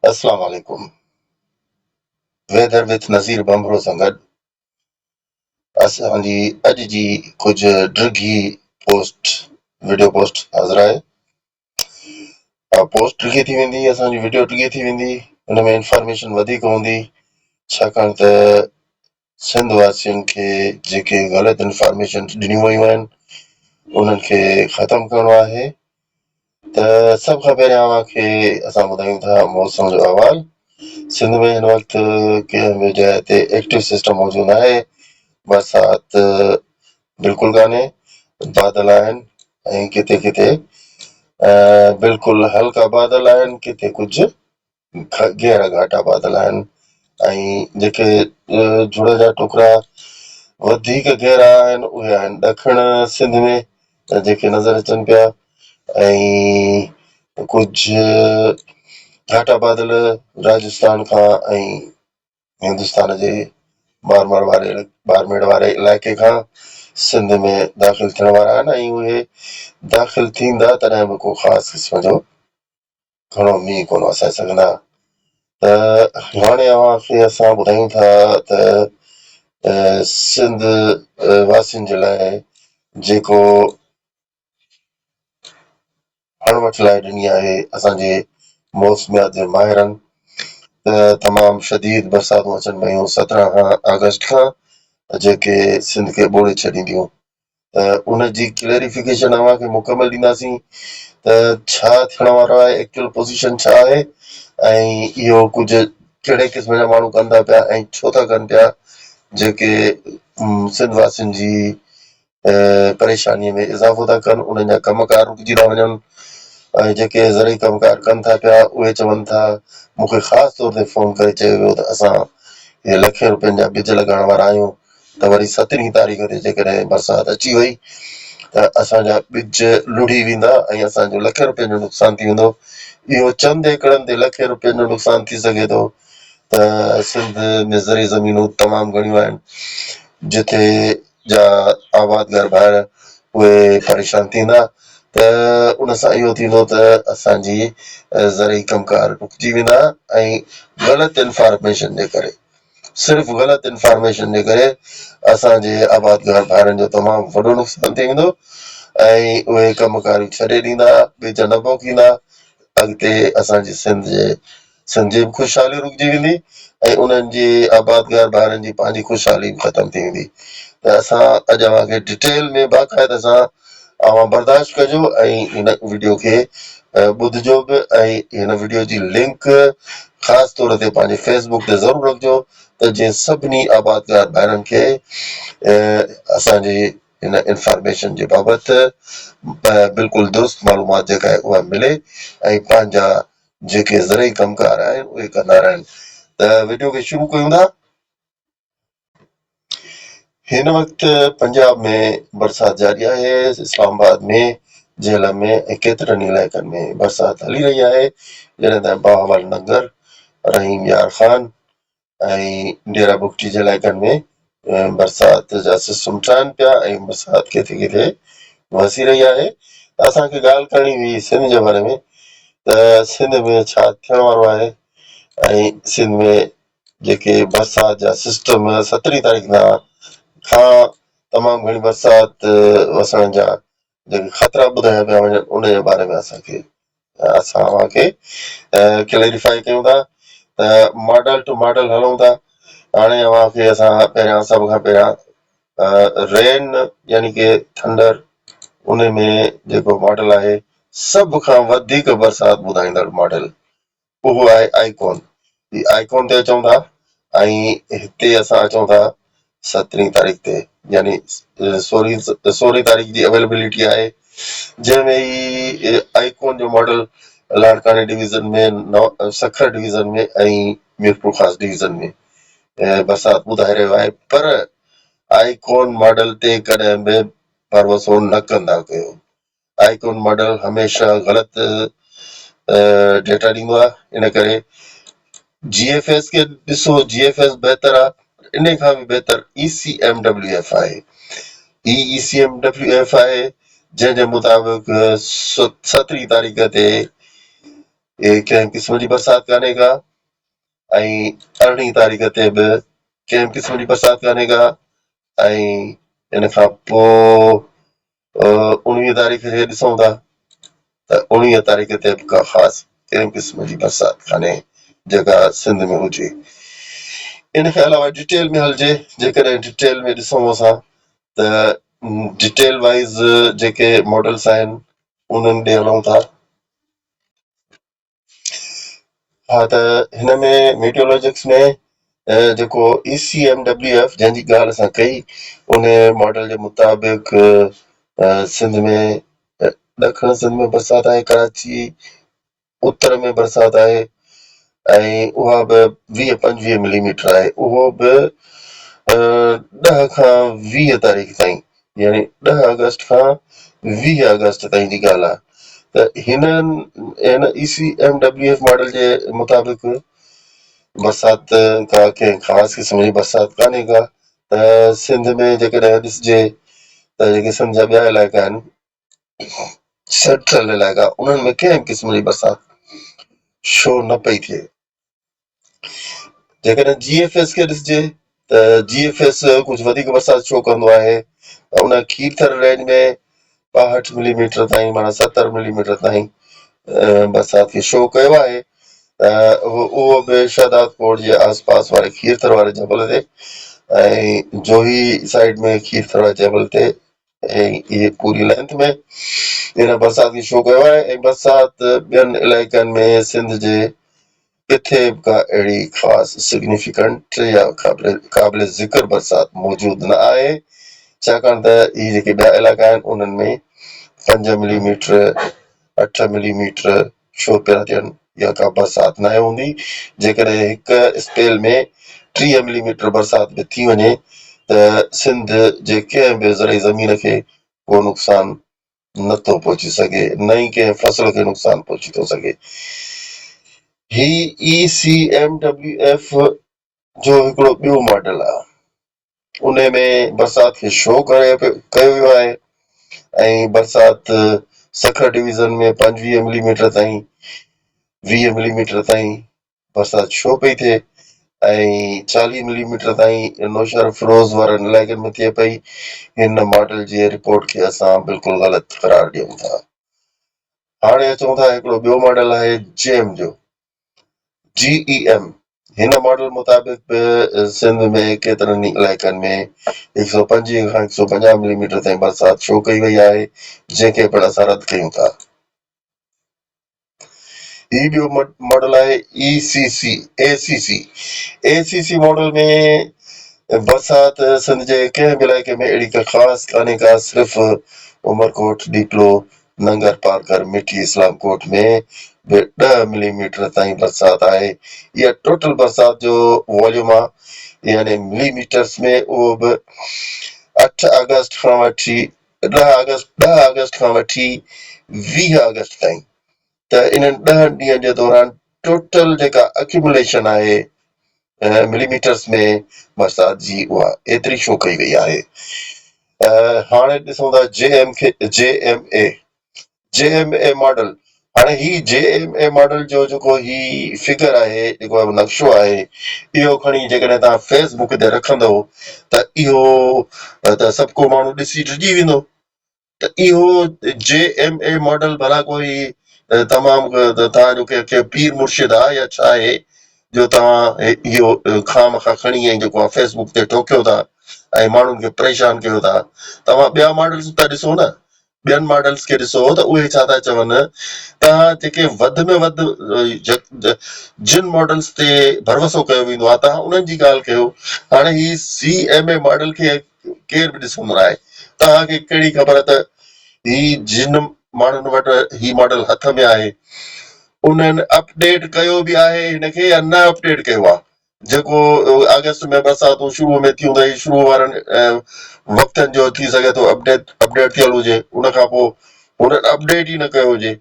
اسلام عليڪم weather with Nazir Bhanbhro سان گڏ اسان جي اڄ جي ڪجهه ڊگهي پوسٽ وڊيو پوسٽ حاضر آهي پوسٽ ڊگهي ٿي ويندي اسان جي وڊيو ڊگهي ٿي ويندي ان ۾ انفارميشن وڌيڪ هوندي ڇاڪاڻ ته سنڌ واسين کي جيڪي غلط انفارميشن ڏنيون ويون آهن انهن کي ختم ڪرڻو آهي ته سڀ کان پهريان اوهان کي اسان ٻڌايون ٿا موسم جو احوال سنڌ ۾ هن وقت ڪنهن به جاء تي ايڪٽو سسٽم موجود نه آهي برسات بلڪل ڪانهي بادل آهن ۽ ڪٿي ڪٿي بلڪل هلڪا بادل آهن ڪٿي ڪجهه گهرا گهاٽا پاتل آهن ۽ جيڪي جھڙ جا ٽڪرا وڌيڪ گهرا آهن اهي آهن ڏکڻ سنڌ ۾ جيڪي نظر اچن پيا ۽ ڪجهه گهاٽا پاتل راجستان کان ۽ هندستان جي بارمر واري بارميڙ واري علائقي کان سنڌ ۾ داخل ٿيڻ وارا آهن ۽ اهي داخل ٿيندا تڏهن به ڪو خاص قسم جو گهڻو مينهن ڪونه وسائي سگهندا ته هاڻي اوهان کي اسان ٻڌايون ٿا ته سنڌ واسين جي لاء جيڪو اڻ وٺ لائي ڏني آهي اسان جي موسميات جي ماهرن ته تمام شديد برساتون اچڻ پيون سترهن کان آگسٽ کان جيڪي سنڌ کي ٻوڙي ڇڏينديون ته ان جي ڪليئريفڪيشن اوهان کي مڪمل ڏينداسين ته ڇا ٿيڻ وارو آهي ايڪچوئل پوزيشن ڇا آهي ۽ اهو ڪجهه ڪهڙي قسم جا ماڻهو ڪن ٿا پيا ۽ ڇو ٿا ڪن پيا جيڪي سنڌ واسين جي پريشاني ۾ اضافو ٿا ڪن انهن جا ڪم ڪار رڪجي ٿا وڃن ۽ جيڪي زرعي ڪم ڪار ڪن ٿا پيا اهي چون ٿا مون کي خاص طور تي فون ڪري چيو ويو ته اسان هي لکين روپين جا ٻج لڳائڻ وارا آهيون ته وري سترهين تاريخ تي جيڪڏهن برسات اچي وئي ته اسان جا ٻج لڙهي ويندا ۽ اسان جو لکين روپين جو نقصان ٿي ويندو. اهو چند ايڪڙن تي لکين روپين جو نقصان ٿي سگهي ٿو ته سنڌ ۾ زرعي زمينون تمام گهڻيون آهن جتي جا آبادگار ڀائر اهي پريشان ٿيندا ته ان سان اهو ٿيندو ته اسان جي زرعي ڪم ڪار رڪجي ويندا ۽ غلط انفارميشن جي ڪري صرف غلط انفارميشن جي ڪري اسان جي آبادگار ڀائرن جو تمام وڏو نقصان ٿي ويندو ۽ اهي ڪم ڪاريون ڇڏي ڏيندا، ٻيجا نه پوکيندا، اڳتي اسان جي سنڌ جي سنڌ جي به خوشحالي رڪجي ويندي ۽ انهن جي آبادگار ڀائرن جي پنهنجي خوشحالي به ختم ٿي ويندي ته اسان اڄ اوهان کي ڊٽيل ۾ باقاعده سان اوهان برداشت ڪجو ۽ هن وڊيو کي ٻڌجو به ۽ هن وڊيو جي لنڪ خاص طور تي پنهنجي فيس بڪ تي ضرور رکجو ته جئين سڀني آبادگار ڀائرن کي اسان جي هن انفارميشن جي بابت بلڪل درست معلومات جيڪا آهي اها ملي ۽ پنهنجا جيڪي زرعي ڪم ڪار آهن اهي ڪندا رهن ته وڊيو کي شروع ڪيون ٿا. هن وقت پنجاب ۾ برسات جاري آهي، اسلام آباد ۾ جهلم ۾ ۽ ڪيترن ئي علائقن ۾ برسات هلي رهي آهي، جڏهن ته بهاول نگر، رحيم يار خان ۽ ڊيرا بگٽي جي علائقن ۾ برسات جا سسٽم ٺهن پيا ۽ برسات ڪٿي ڪٿي وسي رهي آهي ته اسان کي ڳالهه ڪرڻي هئي سنڌ جي باري ۾ ته سنڌ ۾ ڇا ٿيڻ وارو آهي ۽ سنڌ ۾ جيڪي برسات جا سسٽم سترهين تاريخ کان کان تمام گهڻي برسات وسڻ جا جيڪي خطرا ٻڌايا پيا وڃن ان جي باري ۾ اسان کي اسان اوهان کي ڪليريفائي ڪيون ٿا ته ماڊل ٽو ماڊل هلون ٿا هاڻي اوهان کي اسان پهريان سڀ کان پهريان رين يعني ڪي ٿنڊر ان ۾ جيڪو ماڊل آهي سڀ کان وڌيڪ برسات ٻڌائيندڙ ماڊل اهو آهي آئيڪون جي آئيڪون تي اچون ٿا ۽ هتي اسان اچون ٿا سترهين تاريخ تي يعني سورهين سورهين تاريخ جي اويلبلٽي آهي جنهن ۾ هي آئيڪون جو ماڊل لاڙڪاڻي division ۾ Sukkur division ۾ ۽ Mirpur Khas division ۾ برسات ٻڌائي رهيو آهي پر آئيڪون ماڊل تي ڪڏهن به ڀروسو نه ڪندا ڪيو آئيڪون ماڊل هميشه غلط ڊيٽا ڏيندو آهي ان ڪري جي ايف ايس کي ڏسو جي ايف ايس بهتر آهي پر ان کان به بهتر E C M W F آهي هي E C M W F آهي جنهن جي مطابق سترهين تاريخ تي ڪنهن قسم جي برسات ڪانهي ڪا ۽ ارڙهين تاريخ تي به ڪنهن قسم جي برسات ڪانهي ڪا ۽ ان کان پوء اوڻويهين تاريخ کي ڏسون ٿا ته اوڻويهين تاريخ تي به ڪا خاص ڪنهن قسم جي برسات ڪانهي جيڪا سنڌ ۾ هجي. ان کان علاوه ڊيٽيل ۾ هلجي جيڪڏهن ڊيٽيل ۾ ڏسون اسان ته ڊيٽيل وائيز جيڪي ماڊلس آهن انهن ڏي هلون ٿا. ها ته هن ۾ ميٽيولوجڪس ۾ جيڪو ECMWF جنهن جي ڳالهه اسان ڪئي ان ماڊل جي مطابق سنڌ ۾ ڏکڻ سنڌ ۾ برسات آهي ڪراچي اتر ۾ برسات آهي ۽ اها به ويهه پنجويهه ملي ميٽر آهي اهو به ڏهه کان ويهه تاريخ تائين يعني ڏهه آگسٽ کان ويهه آگسٽ تائين جي ڳالهه آهي ته هنن هن E C M W F model جي مطابق برسات ڪا ڪنهن خاص قسم جي برسات ڪانهي ڪا ته سنڌ ۾ جيڪڏهن ڏسجي ته جيڪي سنڌ جا ٻيا علائقا آهن سيٽرل علائقا انهن ۾ ڪنهن به قسم جي برسات شو نه پئي ٿئي جيڪڏهن جي ايف ايس کي ڏسجي ته جي ايف ايس ڪجهه وڌيڪ برسات شو ڪندو آهي ان کير ٿر رينج ۾ ٻاهٺ ملي ميٽر تائين معنيٰ ستر ملي ميٽر تائين برسات کي شو ڪيو آهي اهو به شهداد ڪوٽ جي آس پاس واري کير ٿر واري جبل تي ۽ جوهي سائيڊ ۾ کير ٿر واري جبل تي ۽ اهي پوري لينٿ ۾ هن برسات کي شو ڪيو آهي ۽ برسات ٻين علائقن ۾ سنڌ جي ڪٿي به ڪا اهڙي خاص سگنيفڪنٽ يا قابل ذڪر برسات موجود نه آهي ڇاڪاڻ ته اهي جيڪي ٻيا علائقا آهن انهن ۾ پنج ملي ميٽر اٺ ملي ميٽر شو پيا ٿين يا ڪا برسات ناهي هوندي، جيڪڏهن هڪ اسپيل ۾ ٽيهه ملي ميٽر برسات به ٿي وڃي ته سنڌ جي ڪنهن به زرعي زمين کي ڪو نقصان نه ٿو پهچي سگهي نه ئي ڪنهن فصل کي نقصان پهچي ٿو سگهي. هي E C M W F جو هڪڙو ٻيو ماڊل آهي. انهي ۾ برسات کي شو ڪيو ويو آهي ۽ برسات سکر ڊويزن ۾ پنجويهه ملي ميٽر تائين ويهه ملي ميٽر تائين برسات شو پئي ٿئي ۽ چاليهه ملي ميٽر تائين نوشهر فيروز وارن علائقن ۾ ٿئي پئي هن ماڊل جي رپورٽ کي اسان بلڪل غلط قرار ڏيون ٿا هاڻي اچون ٿا هڪڙو ٻيو ماڊل آهي جيم جو جي اي ايم هن ماڊل مطابق به سنڌ ۾ ڪيترن ئي علائقن ۾ هڪ سؤ پنجويهه کان هڪ سؤ پنجاهه ملي ميٽر تائين برسات شو ڪئي وئي آهي جنهن کي پڻ اسان رد ڪيون ٿا. هي ٻيو ماڊل آهي A C C, ACC، A C C model ۾ برسات سنڌ جي ڪنهن به علائقي ۾ اهڙي ڪا خاص ڪانهي ڪا صرف عمرڪوٽ، ڏيپلو، ننگر پارڪر مٺي اسلام ڪوٽ ۾ به ڏهه ملي ميٽر تائين برسات آهي اها ٽوٽل برسات جو واليوم آهي يعني ملي ميٽرس ۾ اهو به اٺ آگسٽ کان وٺي ڏهه آگسٽ ڏهه آگسٽ کان وٺي ويهه آگسٽ تائين ته انهن ڏهن ڏينهن جي دوران ٽوٽل جيڪا اڪيوموليشن آهي ملي ميٽرز ۾ برسات جي اها ايتري شو ڪئي وئي آهي هاڻي ڏسون ٿا جي ايم کي G M A G M A model هاڻي هي جي ايم اي ماڊل جو جيڪو هي فگر آهي جيڪو نقشو آهي اهو کڻي جيڪڏهن تان فيس بڪ تي رکندو ته اهو ته سڀ ڪو ماڻهو ڏسي ڊڄي ويندو ته اهو جي ايم اي ماڊل ڀلا ڪو هي تمام توهان جو ڪي پير مرشد آ يا ڇا آهي جو توهان اهو کان مکان کڻي ۽ جيڪو آ فيس بڪ تي ٽوڪيو ٿا ۽ ماڻهن کي پريشان ڪيو ٿا توهان ٻيا ماڊلز به ته ڏسو نه ٻين ماڊلز کي ڏسو ته اهي ڇا ٿا چون توهان جيڪي وڌ ۾ وڌ جن ماڊلز تي ڀروسو ڪيو ويندو آ توهان انهن جي ڳالهه ڪيو هاڻي هي سي ايم اي ماڊل کي ڪير به ڏسندو ناهي. توهان کي ڪهڙي خبر ته هي جن ماڻهن وٽ هي ماڊل هٿ ۾ آهي انهن اپ ڊيٽ ڪيو به آهي هن کي يا نه اپ ڊيٽ ڪيو آهي جيڪو آگسٽ ۾ برساتون شروع ۾ ٿيون ته هي شروع وارن وقتن جو ٿي سگهي ٿو اپ ڊيٽ اپ ڊيٽ ٿيل هجي ان کان پوء هنن اپ ڊيٽ ئي نه ڪيو هجي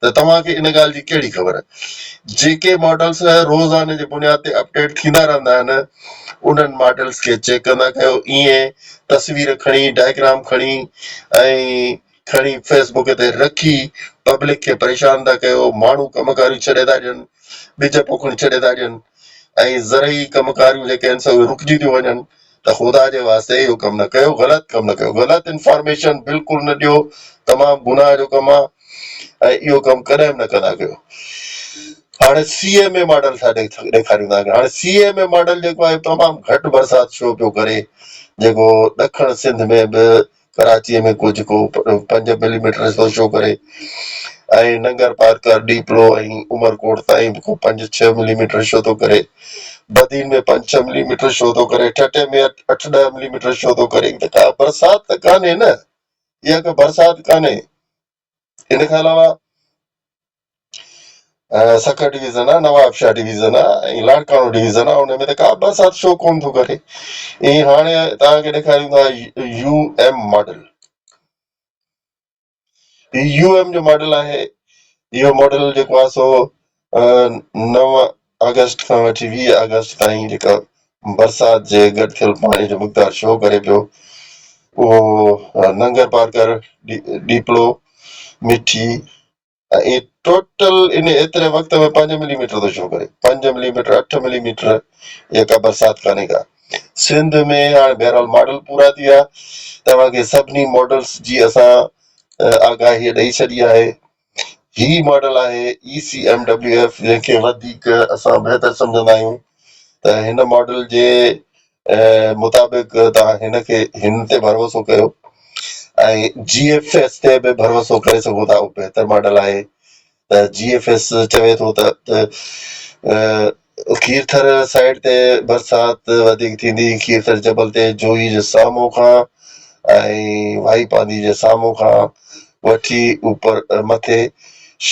ته توهان کي ان ڳالهه جي ڪهڙي خبر؟ جيڪي ماڊلز روزاني جي بنياد تي اپڊيٽ ٿيندا رهندا آهن، انهن ماڊلز کي چيڪ ڪندا ڪيو. ايئن تصوير کڻي، ڊائگرام کڻي ۽ کڻي فيس بڪ تي رکي پبلڪ کي پريشان ٿا ڪيو. ماڻهو ڪم ڪاريون ڇڏي ٿا ڏين، ٻج پوکڻ ڇڏي ٿا ڏين ۽ زرعي ڪم ڪاريون جيڪي آهن سي اهي رڪجي ٿيون وڃن. ته خدا جي واسطي اهو ڪم نه ڪيو غلط ڪم نه ڪيو غلط انفارميشن بلڪل نه ڏيو تمام گناهه جو ڪم آهي ۽ اهو ڪم ڪڏهن به نه ڪندا ڪيو هاڻي سي ايم اي ماڊل ٿا ڏيکاريون تان هاڻي سي ايم اي ماڊل جيڪو آهي تمام گهٽ برسات شو پيو ڪري جيڪو ڏکڻ سنڌ ۾ به ڪراچيء ۾ ڪو جيڪو پنج ملي ميٽر ٿو شو ڪري ۽ ننگرپارڪر، ڏيپلو ۽ عمرڪوٽ تائين به ڪو پنج ڇهه ملي ميٽر شو ٿو ڪري. بدين ۾ پنج ڇهه ملي ميٽر شو ٿو ڪري. ٺٽي ۾ اٺ ڏهه ملي ميٽر شو ٿو ڪري. ته ڪا برسات ته ڪانهي نه. اها ڪا برسات ڪانهي. ان کان علاوه سکر ڊويزن آ، نواب شاهه ڊويزن آ ۽ لاڙڪاڻو ڊويزن آ ان ۾ ته ڪا به برسات شو ڪونه ٿو ڪري ۽ هاڻي توهان کي ڏيکاريون ٿا يو ايم ماڊل هي يو ايم جو ماڊل آهي اهو ماڊل جيڪو آهي سو نو آگسٽ کان وٺي ويهه آگسٽ تائين جيڪا برسات جي گڏ ٿيل پاڻي جو مقدار شو ڪري پيو اهو ننگر پارڪر ڏيپلو مٺي ۽ ٽوٽل ان ايتري وقت ۾ پنج ملي ميٽر ٿو شو ڪري پنج ملي ميٽر اٺ ملي ميٽر اها ڪا برسات ڪانهي ڪا سنڌ ۾ هاڻي بهرحال ماڊل پورا ٿي ويا توهان کي سڀني ماڊلس جي اسان آگاهي ڏئي ڇڏي آهي هي ماڊل آهي ECMWF جنهن کي وڌيڪ اسان بهتر سمجهندا آهيون ته هن ماڊل جي مطابق توهان هن کي هن تي ڀروسو ڪيو ۽ GFS تي به ڀروسو ڪري سگهو ٿا اهو بهتر ماڊل آهي ته GFS چوي ٿو ته کيرٿر سائيڊ تي برسات وڌيڪ ٿيندي، کيرٿر جبل تي جوهي جي سامهون کان ۽ وهائي پانڌي جي سامهون کان وٺي اوپر مٿي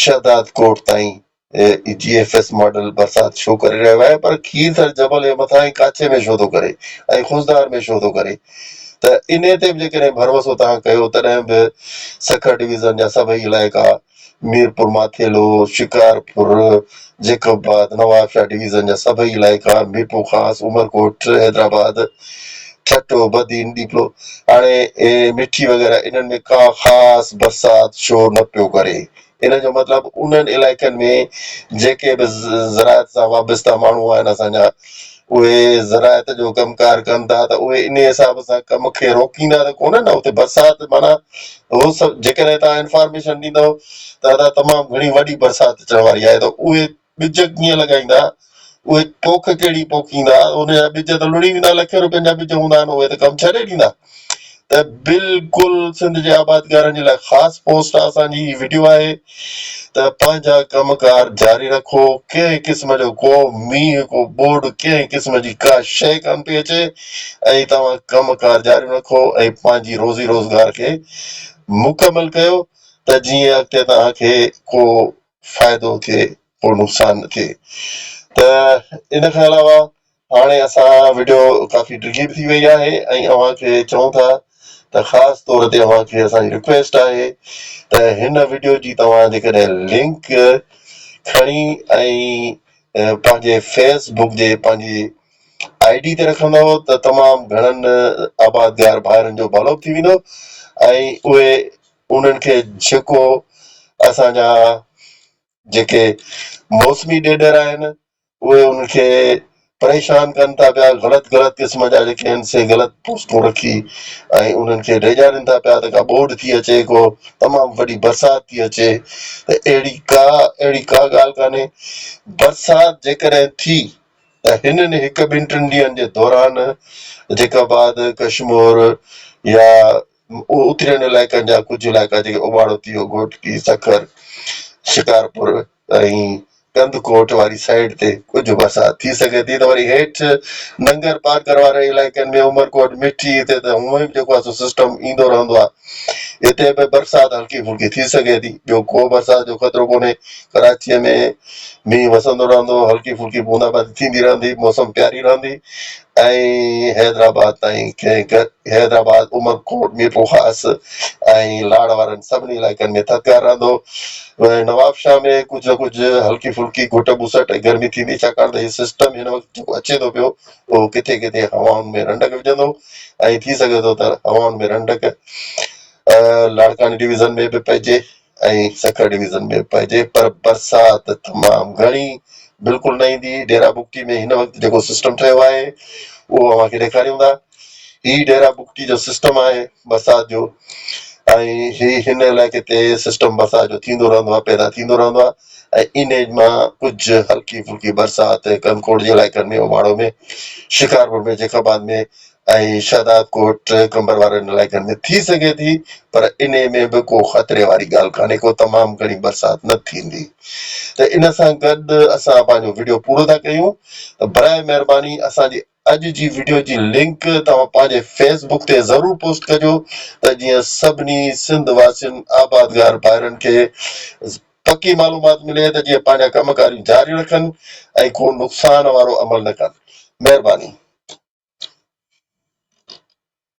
شهداد ڪوٽ تائين جي ايف ايس ماڊل برسات شو ڪري رهيو آهي پر کيرٿر جبل جي مٿانهين ڪاڇي ۾ شو ٿو ڪري ۽ خضدار ۾ شو ٿو ڪري ته انهي تي به جيڪڏهن ڀروسو توهان ڪيو تڏهن به سکر ڊويزن جا سڀئي علائقا ميرپورماٿيلو، شڪارپور، جيڪب آباد، نوابشاهه ڊويزن جا سڀئي علائقا، ميرپورخاص، عمرڪوٽ، حيدرآباد، ٺٽو، بدين، ڏيپلو، هاڻي مٺي وغيره انهن ۾ ڪا خاص برسات شور نه پيو ڪري. ان جو مطلب انهن علائقن ۾ جيڪي به زراعت سان وابسته ماڻهو آهن اسان جا، اهي زراعت جو ڪم ڪار ڪن ٿا ته اهي انهي حساب سان ڪم کي روڪيندا ته ڪونه نه اتي برسات معنيٰ هو سڀ جيڪڏهن توهان انفارميشن ڏيندو ته ادا تمام گهڻي وڏي برسات اچڻ واري آهي ته اهي ٻج ڪيئن لڳائيندا اهي پوک ڪهڙي پوکيندا ان جا ٻج ته لڙهي ويندا لکين روپين جا ٻج هوندا آهن اهي ته ڪم ڇڏي ڏيندا ته بلڪل سنڌ جي آبادگارن جي لاء خاص پوسٽ آ اسان جي هي وڊيو آهي ته پنهنجا ڪم ڪار جاري رکو ڪنهن قسم جو ڪو مينهن ڪو ٻوڏ ڪنهن قسم جي ڪا شيء ڪان پئي اچي ۽ توهان ڪم ڪار جاري رکو ۽ پنهنجي روزي روزگار کي مڪمل ڪيو ته جيئن اڳتي توهان کي ڪو فائدو ٿئي ڪو نقصان نه ٿئي ته ان کان علاوه هاڻي اسان وڊيو ڪافي ڊگهي به ٿي وئي آهي ۽ اوهان کي چئون ٿا ته خاص طور تي اوهان کي اسان جي رڪويسٽ آهي ته هن وڊيو جي توهان جيڪڏهن لنڪ کڻي ۽ پنهنجي فيس بڪ جي پنهنجي آئي ڊي تي رکندؤ ته تمام گهڻن آبادگار ڀائرن جو ڀلو به ٿي ويندو ۽ اهي انهن کي جيڪو اسان جا جيڪي موسمي ڏيڏر آهن اهي ان کي پريشان ڪن ٿا پيا، غلط غلط قسم جا جيڪي آهن سي غلط پوسٽون رکي ۽ انهن کي ڊيڄارين ٿا پيا ته ڪا ٻوڏ ٿي اچي ڪو تمام وڏي برسات ٿي اچي ته اهڙي ڪا اهڙي ڪا ڳالهه ڪانهي برسات جيڪڏهن ٿي ته هنن هڪ ٻن ٽن ڏينهن جي دوران جيڪب آد ڪشمور يا اترين علائقن جا ڪجهه علائقا جيڪي اوٻاڙوتيو، گهوٽڪي، سکر، شڪارپور ۽ ڪنڌڪوٽ واري سائيڊ تي ڪجهه برسات ٿي سگهي ٿي ته وري هيٺ ننگر پارڪر وارن علائقن ۾ عمرڪوٽ، مٺي هتي ته هونئن به جيڪو آهي سو سسٽم ايندو رهندو آهي هتي به برسات هلڪي ڦلڪي ٿي سگهي ٿي ٻيو ڪو برسات جو خطرو ڪونهي ڪراچيء ۾ مينهن وسندو رهندو هلڪي ڦلڪي بوندا باندي ٿيندي رهندي موسم پياري رهندي ۽ حيدرآباد تائين ڪنهن گڏ حيدرآباد، عمرڪوٽ، ميرپورخاص ۽ لاڙ وارن سڀني علائقن ۾ ٿڌڪار رهندو. نوابشاهه ۾ ڪجهه نه ڪجهه هلڪي ڦلڪي گهٽ ٻسٽ ۽ گرمي ٿيندي ڇاڪاڻ ته هي سسٽم هن وقت جيڪو اچي ٿو پيو اهو ڪٿي ڪٿي هوائن ۾ رنڊڪ وجهندو ۽ ٿي سگهي ٿو ته هوائن ۾ رنڊڪ لاڙڪاڻي ڊويزن ۾ به پئجي. ۽ سکر ڊويزن ۾ پئجي پر برسات تمام گهڻي بلڪل نه ايندي ڊيرا بگٽي ۾ هن وقت جيڪو سسٽم ٺهيو آهي اهو اوهان کي ڏيکاريون ٿا هي ڊيرا بگٽي جو سسٽم آهي برسات جو ۽ هي هن علائقي تي سسٽم برسات جو ٿيندو رهندو آهي پيدا ٿيندو رهندو آهي ۽ انهي مان ڪجهه هلڪي ڦلڪي برسات ڪنڪوٽ جي علائقن ۾ اوماڙو ۾ شڪارپور ۾ جيڪب آباد ۾ ۽ شهداد ڪوٽ قمبر وارن علائقن ۾ ٿي سگهي ٿي پر انهي ۾ به ڪو خطري واري ڳالهه ڪانهي ڪو تمام گهڻي برسات نه ٿيندي ته ان سان گڏ اسان پنهنجو وڊيو پورو ٿا ڪيون ته براهه مهرباني اسان جي اڄ جي وڊيو جي لنڪ توهان پنهنجي فيس بڪ تي ضرور پوسٽ ڪجو ته جيئن سڀني سنڌ واسين آبادگار ڀائرن کي پڪي معلومات ملي ته جيئن پنهنجا ڪم ڪاريون جاري رکن ۽ ڪو نقصان وارو عمل نه ڪن مهرباني.